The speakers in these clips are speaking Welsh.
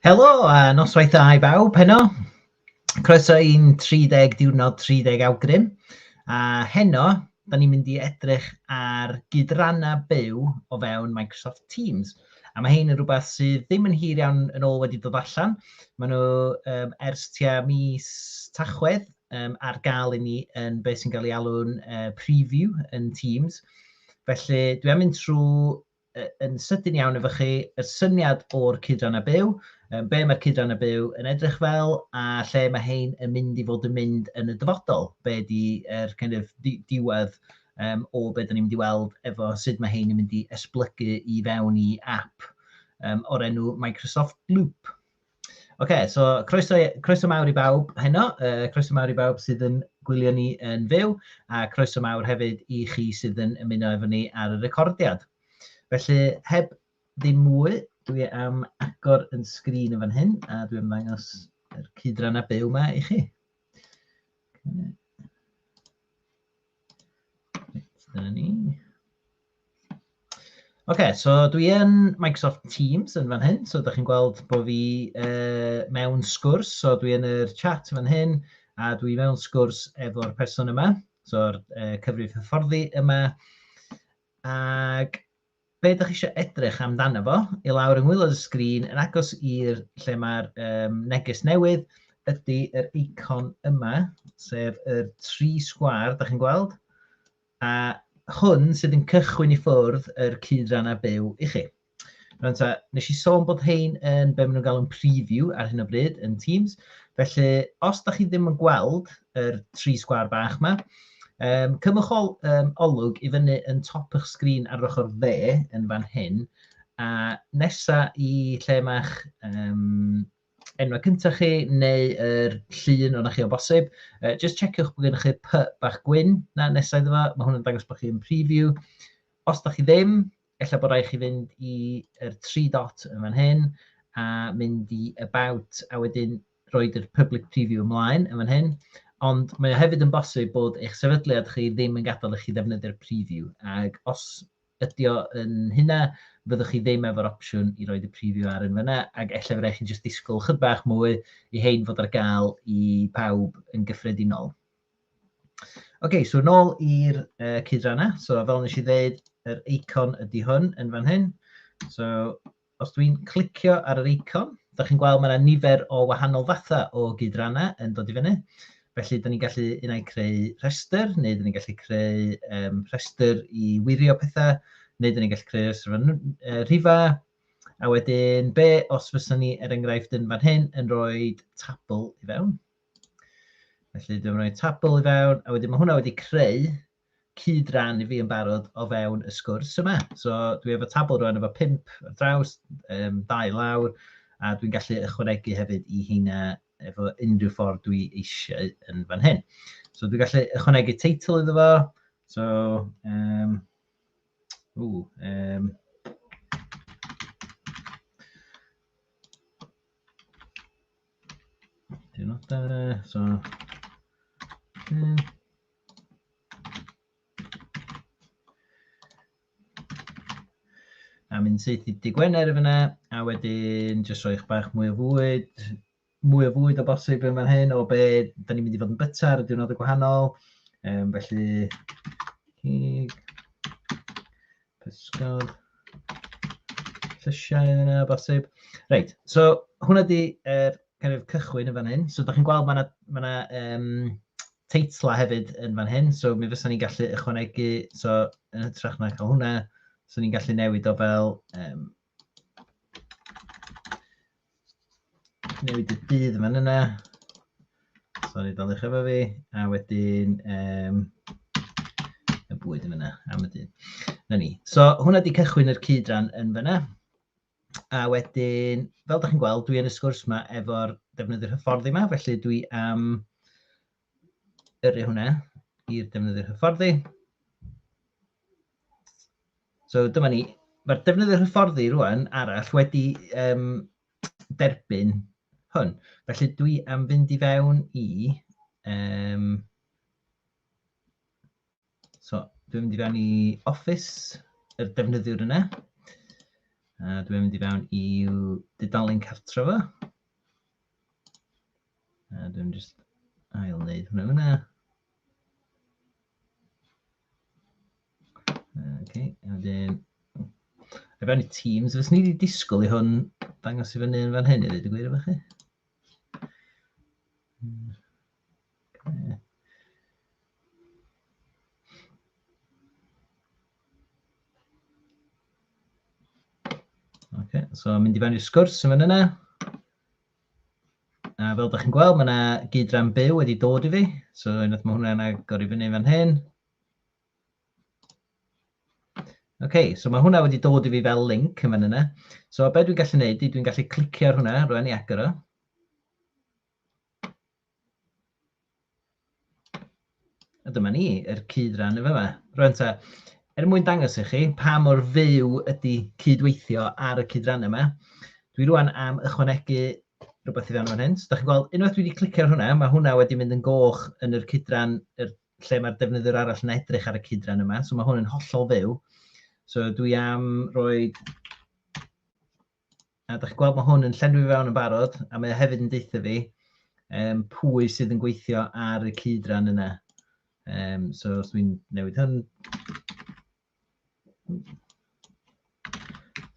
Helo a noswaith dda i bawb heno. Croeso i'n 30 diwrnod 30 awgrym. A heno, da ni'n mynd i edrych ar gydrannau byw o fewn Microsoft Teams. A mae hyn yn rhywbeth sydd ddim yn hir iawn yn ôl wedi dod allan. Mae nhw um, ers tua mis tachwedd um, ar gael i ni yn beth sy'n cael ei alw'n uh, preview yn Teams. Felly dwi am mynd trwy yn sydyn iawn efo chi, y syniad o'r cydran a byw, be mae'r cydran a byw yn edrych fel a lle mae hein yn mynd i fod yn mynd yn y dyfodol, be di er kind of diwedd um, o be da ni'n mynd i weld efo sut mae hein yn mynd i esblygu i fewn i app um, o'r enw Microsoft Loop. Oce, so croeso, croeso mawr i bawb heno, uh, croeso mawr i bawb sydd yn gwylio ni yn fyw, a croeso mawr hefyd i chi sydd yn ymuno efo ni ar y recordiad. Felly, heb ddim mwy, dwi am agor yn sgrin yn fan hyn, a dwi am ddangos yr cydran a byw yma i chi. Okay. Dyna ni. OK, so dwi yn Microsoft Teams yn fan hyn, so ydych chi'n gweld bod fi uh, mewn sgwrs, so dwi yn yr chat fan hyn, a dwi mewn sgwrs efo'r person yma, so'r uh, cyfrif hyfforddi yma, ac Be dych chi eisiau edrych amdano fo? I lawr yng ngwaelod y sgrin, yn agos i'r lle mae'r um, neges newydd, ydy yr eicon yma, sef y tri sgwar, da chi'n gweld? A hwn sydd yn cychwyn i ffwrdd yr cyd-ran a byw i chi. Rwy'n ta, nes i sôn bod hein yn be maen nhw'n galw'n preview ar hyn o bryd yn Teams, felly os da chi ddim yn gweld yr tri sgwâr bach yma. Um, cymwch ol, um, olwg i fyny yn top eich sgrin ar ochr dde yn fan hyn, a nesa i lle mae'ch um, enwau cyntaf chi neu yr llun o'na chi o bosib, uh, just checiwch bod gennych chi py bach gwyn na nesau iddo fo, mae hwnna'n dangos bod chi'n preview. Os da chi ddim, Ella bod rhaid i chi fynd i'r tri dot yn fan hyn, a mynd i About, a wedyn roed yr Public Preview ymlaen yn fan hyn. Ond mae o hefyd yn bosib bod eich sefydliad chi ddim yn gadael i chi ddefnyddio'r preview, ac os ydy o yn hynna, fyddwch chi ddim efo'r opsiwn i roed y preview ar yn fanna, ac ella fydd rhaid chi'n jyst disgwyl chydig bach mwy i hein fod ar gael i pawb yn gyffredinol. Ok, so nôl i'r uh, cydrannau. So fel nes i ddeud, yr eicon ydy hwn yn fan hyn. So os dwi'n clicio ar yr eicon, da chi'n gweld mae yna nifer o wahanol fathau o gydrannau yn dod i fyny. Felly, da ni'n gallu unau creu rhestr, neu da ni'n gallu creu um, rhestr i wirio pethau, neu da ni'n gallu creu rhestr fan uh, rhifa. A wedyn, be os fysa ni, er enghraifft, yn fan hyn, yn rhoi tabl i fewn? Felly dwi'n rhoi tabl i fewn, a wedyn mae hwnna wedi creu cyd ran i fi yn barod o fewn y sgwrs yma. So dwi efo tabl rwan efo pimp ar draws, um, dau lawr, a dwi'n gallu ychwanegu hefyd i heina efo unrhyw ffordd dwi eisiau yn fan hyn. So dwi'n gallu ychwanegu teitl iddo fo, so, um, ww, um, Dwi'n nodau fe, so... Hmm. A mynd syth i dy Gwener y fyna, a wedyn jyst rhoi eich bach mwy o fwyd, mwy o fwyd o bosib yn fan hyn, o be, da ni'n mynd i fod yn byta ar y diwrnod y gwahanol. Um, felly, cig, Pysgod. Llysiau yna, bosib. Reit, so hwnna di er, kind of, cychwyn yn fan hyn. So da chi'n gweld mae yna ma na, um, teitla hefyd yn fan hyn. So mi fysa ni'n gallu ychwanegu, so yn hytrach na cael hwnna, so ni'n gallu newid o fel um, Newid y dydd yma'n yna. Sori, dal eich efo fi. A wedyn, um, y bwyd yn yna, am y dydd. Na ni. So, hwnna di cychwyn yr cyd-ran yn fyna. A wedyn, fel da chi'n gweld, dwi yn y sgwrs yma efo'r defnyddwyr hyfforddi yma, felly dwi am yrru hwnna i'r defnyddiwr hyfforddi. So dyma ni, mae'r defnyddiwr hyfforddi rwan arall wedi um, derbyn hwn. Felly dwi am fynd i fewn i um, So, dwi'n mynd i fewn i Office, y defnyddiwr yna. A dwi'n mynd i fewn i dudalen cartref o. A dwi'n just ail wneud hwnna fyna. Okay, a wedyn... A fewn i Teams, fes ni wedi disgwyl i hwn dangos i fyny yn fan hyn i ddweud y gwir efo chi. So mynd i fewn i'r sgwrs yn fan yna. A fel ydych chi'n gweld, mae yna gyd-ran byw wedi dod i fi. So unwaith mae hwnna'n agor i fyny fan hyn. OK, so mae hwnna wedi dod i fi fel link yn fan yna. So be dwi'n gallu gwneud, dwi'n gallu clicio ar hwnna, rwy'n i agor o. A dyma ni, yr cyd-ran yn fama. Rwan ta, er mwyn dangos i chi pa mor fyw ydy cydweithio ar y cyd-ran yma, dwi rwan am ychwanegu rhywbeth i fewn o'n hyn. So, da chi'n gweld, unwaith dwi wedi clicio ar hwnna, mae hwnna wedi mynd yn goch yn yr cyd-ran, er, lle mae'r defnyddwyr arall yn edrych ar y cyd-ran yma. So, mae hwn yn hollol fyw. So, dwi am roi A da chi'n gweld mae hwn yn llenwi fewn yn barod, a mae o hefyd yn deutha fi um, pwy sydd yn gweithio ar y cyd-ran yna. Um, so os dwi'n newid hwn...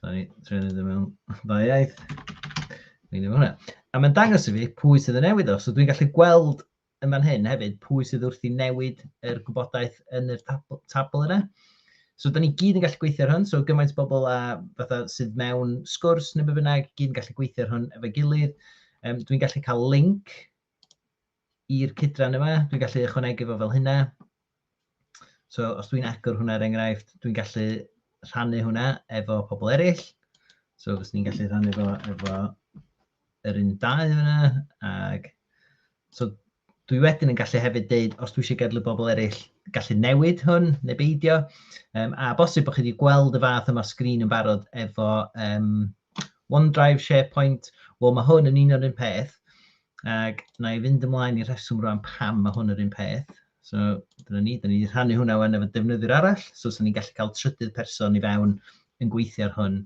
Sorry, trwy'n edrych mewn dda iaith. Dwi'n newid hwnna. A mae'n dangos i fi pwy sydd yn newid o, so dwi'n gallu gweld yn fan hyn hefyd, pwy sydd wrth i newid yr gwybodaeth yn yr tabl yna. So, da ni gyd yn gallu gweithio ar hwn, so gymaint bobl a fatha sydd mewn sgwrs neu be bynnag, gyd yn gallu gweithio ar hwn efo gilydd. Um, Dwi'n gallu cael link i'r cydran yma, dwi'n gallu ychwanegu fo fel hynna. So, os dwi'n agor hwnna, er enghraifft, dwi'n gallu rhannu hwnna efo pobl eraill. So, fes ni'n gallu rhannu fo efo yr un dau hwnna. Ac, so, dwi wedyn yn gallu hefyd deud, os dwi eisiau gadw bobl eraill gallu newid hwn neu beidio. Um, a bosib bod chi wedi gweld y fath yma sgrin yn barod efo um, OneDrive, SharePoint. Wel, mae hwn yn un o'r un peth. Ac na i fynd ymlaen i reswm rwan pam mae hwn yr un peth. So, dyna ni, da ni wedi rhannu hwnna wan efo defnyddiwr arall, so so ni'n gallu cael trydydd person i fewn yn gweithio ar hwn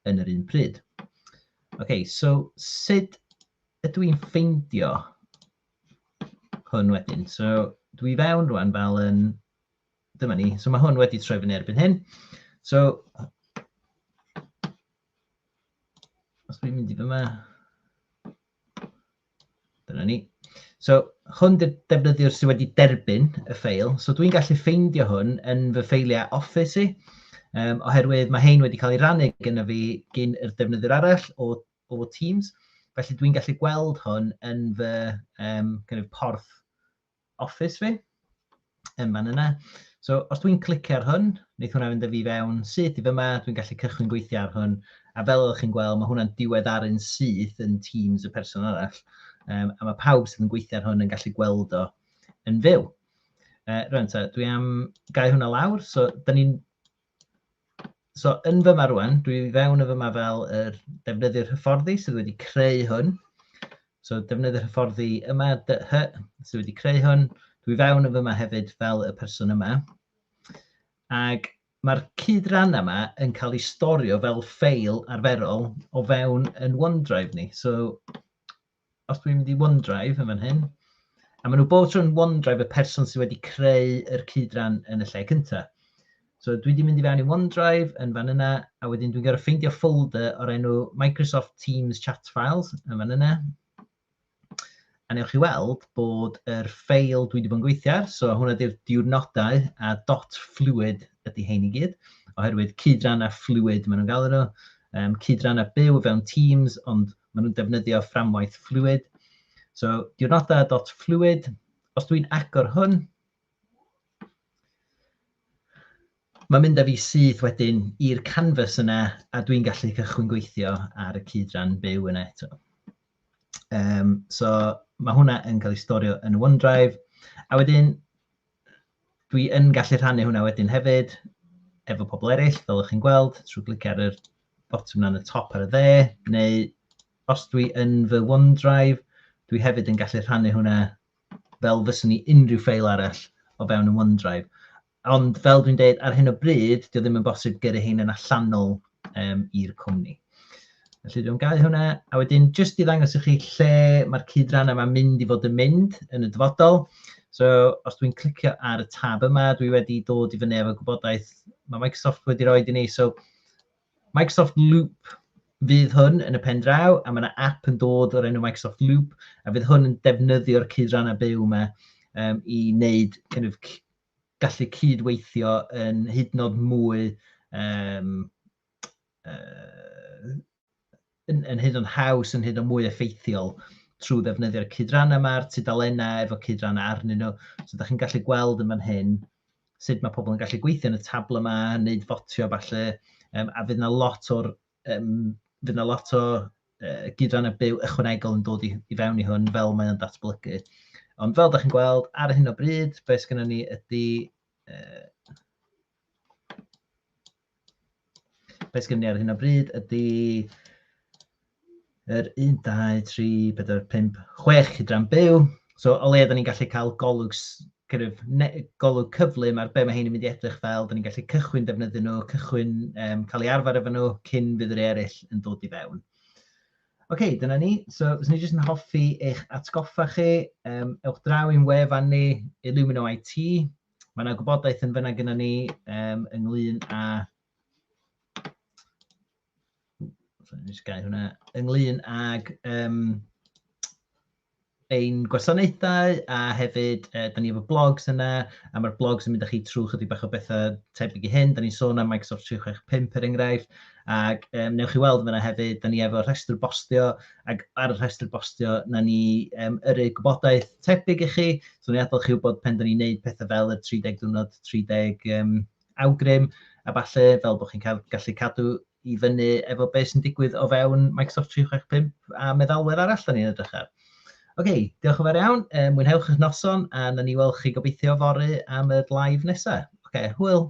yn yr un pryd. OK, so sut ydw i'n ffeindio hwn wedyn? So, dwi fewn rwan fel yn... Dyma ni. So mae hwn wedi troi fyny erbyn hyn. So, os dwi'n mynd i fyma... Dyna ni. So, hwn de defnyddiwr sydd wedi derbyn y ffeil. So, dwi'n gallu ffeindio hwn yn fy ffeiliau Office i, um, oherwydd mae hein wedi cael ei rannu gyda fi gyn yr defnyddiwr arall o, o Teams. Felly, dwi'n gallu gweld hwn yn fy um, kind of porth Office fi, yn fan yna. So, os dwi'n clicio ar hwn, wneith hwnna fynd â fi fewn syth i fyma, dwi'n gallu cychwyn gweithio ar hwn, a fel ydych chi'n gweld, mae hwnna'n diweddaru'n syth yn Teams y person arall, um, a mae pawb sydd yn gweithio ar hwn yn gallu gweld o yn fyw. Uh, rwan, ta, dwi am gau hwnna lawr, so da ni'n So, yn fyma rwan, dwi fewn yn fyma fel yr defnyddiwr hyfforddi sydd wedi creu hwn. So, defnyddiwr hyfforddi yma, DH, sydd wedi creu hwn. Dwi fewn yn fyma hefyd fel y person yma. Ac mae'r cyd-ran yma yn cael ei storio fel ffeil arferol o fewn yn OneDrive ni. So, os dwi'n mynd i OneDrive yn fan hyn, a maen nhw bob tro yn OneDrive y person sydd wedi creu yr cydran yn y lle cyntaf. So dwi wedi mynd i fewn i OneDrive yn fan yna, a wedyn dwi'n gorfod ffeindio folder o'r enw Microsoft Teams Chat Files yn fan yna. A newch chi weld bod yr ffeil dwi wedi bod yn gweithio ar, so hwnna di'r diwrnodau a dot fluid ydy hein i gyd, oherwydd cydran a fluid maen nhw'n galw nhw, um, cydran a byw fewn Teams, ond Maen nhw'n defnyddio fframwaith Fluid. So, diwrnodau.fluid. Os dwi'n agor hwn, mae'n mynd â fi syth wedyn i'r canvas yna a dwi'n gallu cychwyn gweithio ar y cyd-ran byw yna eto. Um, so, mae hwnna yn cael ei storio yn OneDrive. A wedyn, dwi yn gallu rhannu hwnna wedyn hefyd efo pobl eraill, fel ych chi'n gweld, trwy glicio ar yr botwm yna yn y top ar y dde, neu os dwi yn fy OneDrive, dwi hefyd yn gallu rhannu hwnna fel fyswn i unrhyw ffeil arall o fewn yn OneDrive. Ond fel dwi'n dweud, ar hyn o bryd, dwi ddim yn bosib gyrru hyn yn allanol um, i'r cwmni. Felly dwi'n gau hwnna, a wedyn jyst i ddangos i chi lle mae'r cyd-ran yma'n mynd i fod yn mynd yn y dyfodol. So, os dwi'n clicio ar y tab yma, dwi wedi dod i fyny efo gwybodaeth mae Microsoft wedi rhoi i ni. So, Microsoft Loop fydd hwn yn y pen draw, a mae yna app yn dod o'r enw Microsoft Loop, a fydd hwn yn defnyddio'r cydrannau byw yma um, i wneud kind of, gallu cydweithio yn hyd yn oed mwy um, yn, yn hyd yn haws, yn hyd yn mwy effeithiol trwy ddefnyddio'r cydrannau yma, a'r tudalennau efo cydrannau arnyn nhw. So, da chi'n gallu gweld yn fan hyn sut mae pobl yn gallu gweithio yn y tabl yma, wneud fotio falle, um, a fydd yna lot o'r um, fydd yna lot o uh, gydran y byw ychwanegol yn dod i, i fewn i hwn fel mae'n datblygu. Ond fel da chi'n gweld, ar hyn o bryd, beth sgynnon ni ydy... Uh, Be sgynny ni ar hyn o bryd ydy yr 1, 2, 3, 4, 5, 6 hydran byw. So o le da ni'n gallu cael golwg, kind of, ne, golwg cyflym ar be mae hyn yn mynd i edrych fel, da ni'n gallu cychwyn defnyddio nhw, cychwyn um, cael ei arfer efo nhw cyn fydd yr eraill yn dod i fewn. Oce, okay, dyna ni. So, os ni jyst yn hoffi eich atgoffa chi, um, ewch draw i'n wefan ni, Illumino IT, Mae yna gwybodaeth yn fyna gyda ni um, ynglyn â hwnna, ynglyn ag um, ein gwasanaethau a hefyd e, da ni efo blogs yna a mae'r blogs yn mynd â chi trwy chydig bach o bethau tebyg i hyn. Da ni'n sôn am Microsoft 365 er enghraifft ac um, newch chi weld fyna hefyd, da ni efo rhestr bostio ac ar y rhestr bostio, na ni um, yrru gwybodaeth tebyg i chi. So, ni'n adal chi wybod pen da ni'n neud pethau fel y 30 diwrnod, 30 um, awgrym, a falle fel bod chi'n cael, gallu cadw i fyny efo beth sy'n digwydd o fewn Microsoft 365 a meddalwedd arall da ni'n edrych ar. Oce, okay, diolch yn fawr iawn. Um, mwynhewch eich noson a na ni weld chi gobeithio fory am y live nesaf. Oce, okay, hwyl.